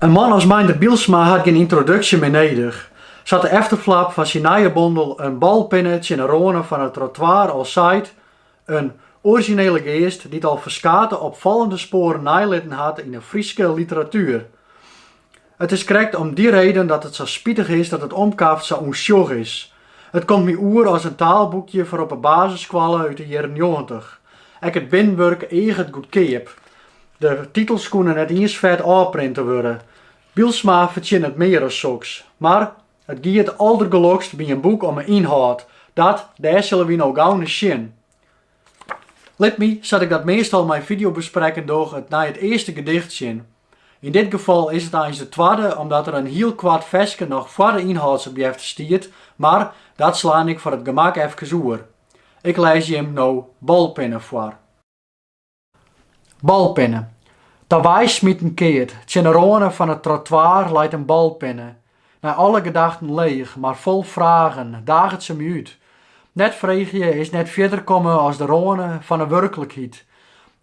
In man as Meindert Bylsma hat gjin yntroduksje mear nedich. Sa't de efterflap fan syn nije bondel in balpinne tsjin 'e râne fan it trottoir al seit, in orizjinele geast dy't al ferskate opfallende spoaren neilitten hat yn 'e Fryske literatuer. It is krekt om dy reden dat it sa spitich is dat it omkaft sa ûnsjoch is. It komt my oer as in taalboekje foar op 'e basisskoalle út 'e jierren njoggentich. Ek it binwurk eaget goedkeap. De titels koene net iens fet ôfprinte wurde. Bylsma fertsjinnet mear as soks. Mar, it giet aldergelokst by in boek om 'e ynhâld. Dat, dêr sille wy no gau nei sjen. Lit my, sa't ik dat meastal mei fideobesprekken doch, nei it earste gedicht sjen. Yn dit gefal is it eins de twadde omdat der in hiel koart ferske noch foar de ynhâldsopjefte stiet, mar dat slaan ik foar it gemak efkes oer. Ik lês jim no balpinne foar. Balpinne. Tewei smiten keard. Tsjin de râne fan it trottoir leit in balpinne. Nei alle gedachten leech, mar fol fragen, daget se my út. Net freegje is net fierder komme as de râne fan 'e wurklikheid.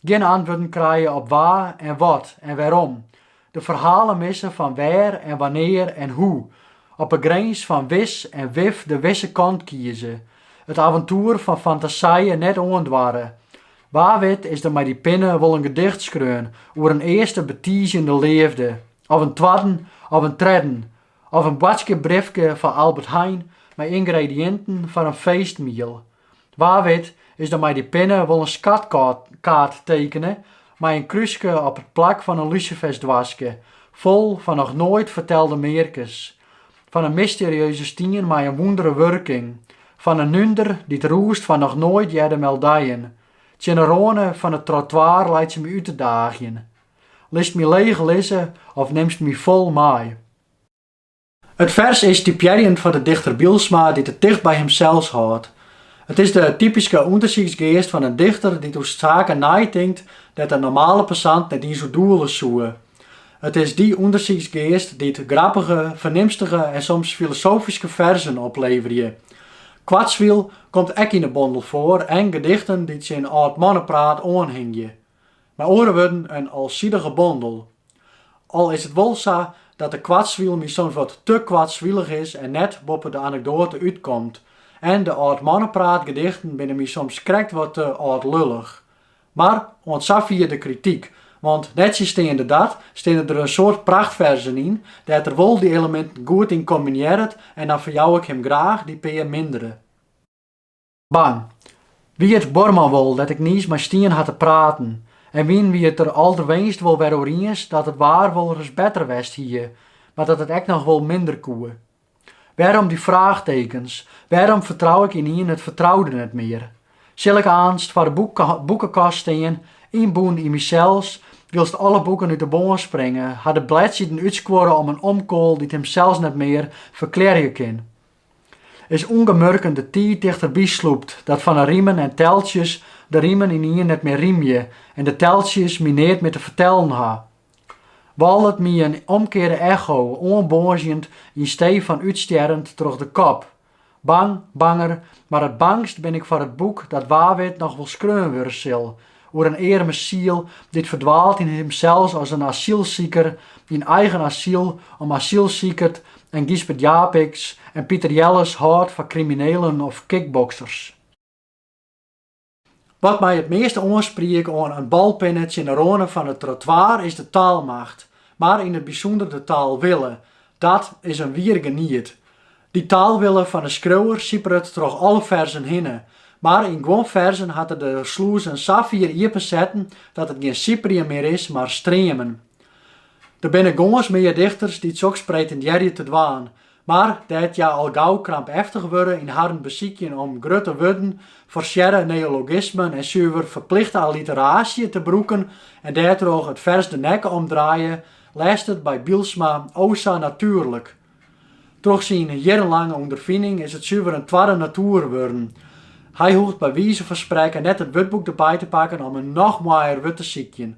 Gjin antwurden krije op wa en wat en wêrom. De ferhalen misse fan wêr en wannear en hoe. Op 'e grins fan wis en wif de wisse kant kieze. It aventoer fan fantasije net oandoare. Wa wit is der mei dy pinne wol in gedicht skreaun oer in earste betiizjende leafde. Of in twadde of in tredde. Of in boadskippebryfke foar Albert Heijn mei yngrediïnten foar in feestmiel. Wa wit is der mei dy pinne wol in skatkaart tekene mei in krúske op it plak fan in lusifersdoaske fol fan noch noait fertelde mearkes. Fan in mysterieuze stien mei in wûndere wurking. Fan in nunder dy't rûst fan noch noait hearde meldijen. Tsjin 'e râne fan it trottoar leit se my út te daagjen. Litst my leech lizze of nimst my fol mei? It fers is typearjend foar de dichter Bylsma dy't it ticht by himsels hâldt. It is de typyske ûndersyksgeast fan in dichter dy't oer saken neitinkt dêr't in normale passant net iens oer doele soe. It is dy ûndersyksgeast dy't grappige, fernimstige en soms filosofyske ferzen opleverje. Koartswiel komt ek yn de bondel foar en gedichten dy't tsjin âld mannepraat oanhingje. Mei oare wurden, in alsidige bondel. Al is it wol sa dat de koartswiel my soms wat te koartswilich is en net boppe de anekdoate útkomt. En de âldmannepraatgedichten binne my soms krekt wat te âldlullich. Mar oant safier de krityk, want nettsjinsteande dat steane der in soad prachtferzen yn dêr't er wol dy eleminten goed yn kombinearret en dan ferjou ik him graach dy pear mindere. Bang. Wie it buorman wol dêr't ik niis mei stien ha te praten, en wiene wy it der âlderwenst wol wer oer iens dat it waar wolris better west hie, mar dat it ek noch wol minder koe. Wêrom dy fraachtekens, wêrom fertrou ik ynienen it fertroude net mear? Sil ik aanst foar de boekekast stean, ynbûn yn mysels, wylst alle boeken út de bân springe, har de bledsiden útskuorre om in omkoal dy't himsels net mear ferklearje kin? is ûngemurken de tiid tichterby slûpt, dat fan 'e rimen en teltsjes de rimen ynienen net mear rymje en de teltsjes my neat mear te fertellen ha. Wâlet my in omkearde echo oanboazjend yn stee fan útstjerrend troch de kop. Bang, banger, mar it bangst bin ik foar it boek dat wa wit noch wol skreaun wurde sil, Oer in earme siel dy't ferdwaalt yn himsels as in asylsiker, yn eigen asyl om asylsikert en Gysbert Japicx en Piter Jelles hâldt foar kriminelen of kickboksers. Wat my it measte oanspriek oan in balpinne tsjin de râne fan it trottoir is de taalmacht, mar yn it bysûnder de taalwille. Dat is in wier geniet. Dy taalwille fan 'e skriuwer siperet troch alle ferzen hinne, mar yn guon ferzen hat er de slûzen safier iepen setten dat it gjin siperjen mear is, mar streamen. Der binne gâns mear dichters dy't soks pretindearje te dwaan, mar dêr't hja al gau krampeftich wurde yn harren besykjen om grutte wurden, forsearre neologismen en suver ferplichte alliteraasje te brûken en dêrtroch it fers de nekke omdraaie, lêst it by Bylsma o sa natuerlik. Troch syn jierrenlange ûnderfining is it suver in twadde natuer wurden. Hy hoecht by wize fan sprekken net it wurdboek derby te pakken om in noch moaier wurd te sykjen.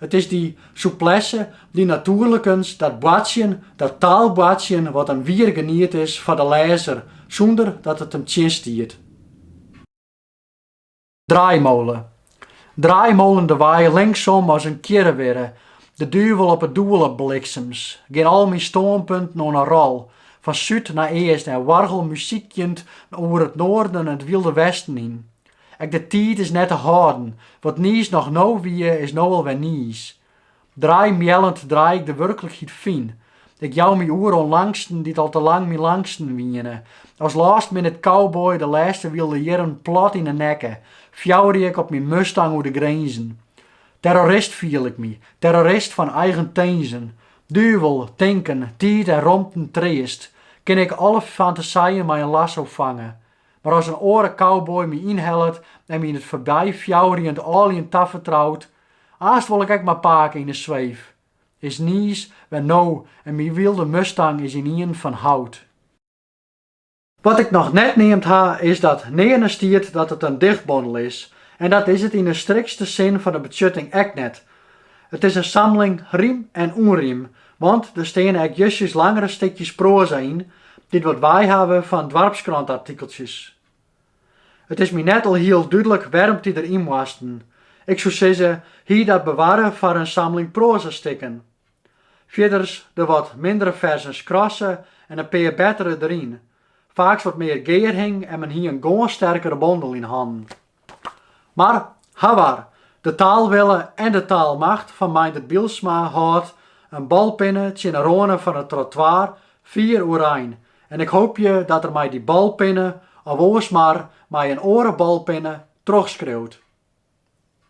It is dy souplesse, dy natuerlikens, dat boartsjen, dat taalboartsjen wat in wier geniet is foar de lêzer, sûnder dat it him tsjinstiet. Draaimolen. Draaimolen de wei linksom as in kjirrewirre, de duvel op 'e doele bliksems, gean al myn stânpunten oan 'e rol, fan súd nei east en oargelmuzykjend oer it noarden en it wylde westen yn. Ek de tiid is net te hâlden, wat niis noch no wie is no alwer niis. Draaimeallend draai ik de wurklikheid fyn. Ik jou my oer oan langsten dy't al te lang myn langsten wiene. As last minute cowboy de lêste wylde jierren plat yn 'e nekke, fjouwerje ik op myn Mustang oer de grinzen. Terrorist fiel ik my, terrorist fan eigen tinzen. Duvel, tinken, tiid en romten treast, kin ik alle fantaseien mei in lasso fange. Mar as in oare cowboy my ynhellet en my yn it foarby fjouwerjend âljen tafertrout, Aanst wol ik ek mar pake yn 'e sweef. Is niis wer en myn wylde Mustang is ynienen fan hout. Wat ik noch net neamd ha is dat nearne stiet dat it in dichtbondel is en dat is it yn 'e strikste sin fan 'e betsjutting ek net. It is in samling rym en ûnrym, want der steane ek justjes langere stikjes proaza yn dy't wat wei hawwe fan doarpskrantartikeltsjes. It is my net alhiel dúdlik wêrom't dy der yn moasten. Ik soe sizze, hie dat bewarre foar in samling proazastikken. Fierders de wat mindere ferzen skrasse en in pear bettere der yn. Faaks wat mear gearhing en men hie in gâns sterkere bondel yn hannen. Mar, hawar, de taalwille en de taalmacht fan Meindert Bylsma hâldt in balpinne tsjin 'e râne fan it trottoar fier oerein En ik hoopje dat er mei dy balpinne of oars mar mei in oare balpinne trochskriuwt.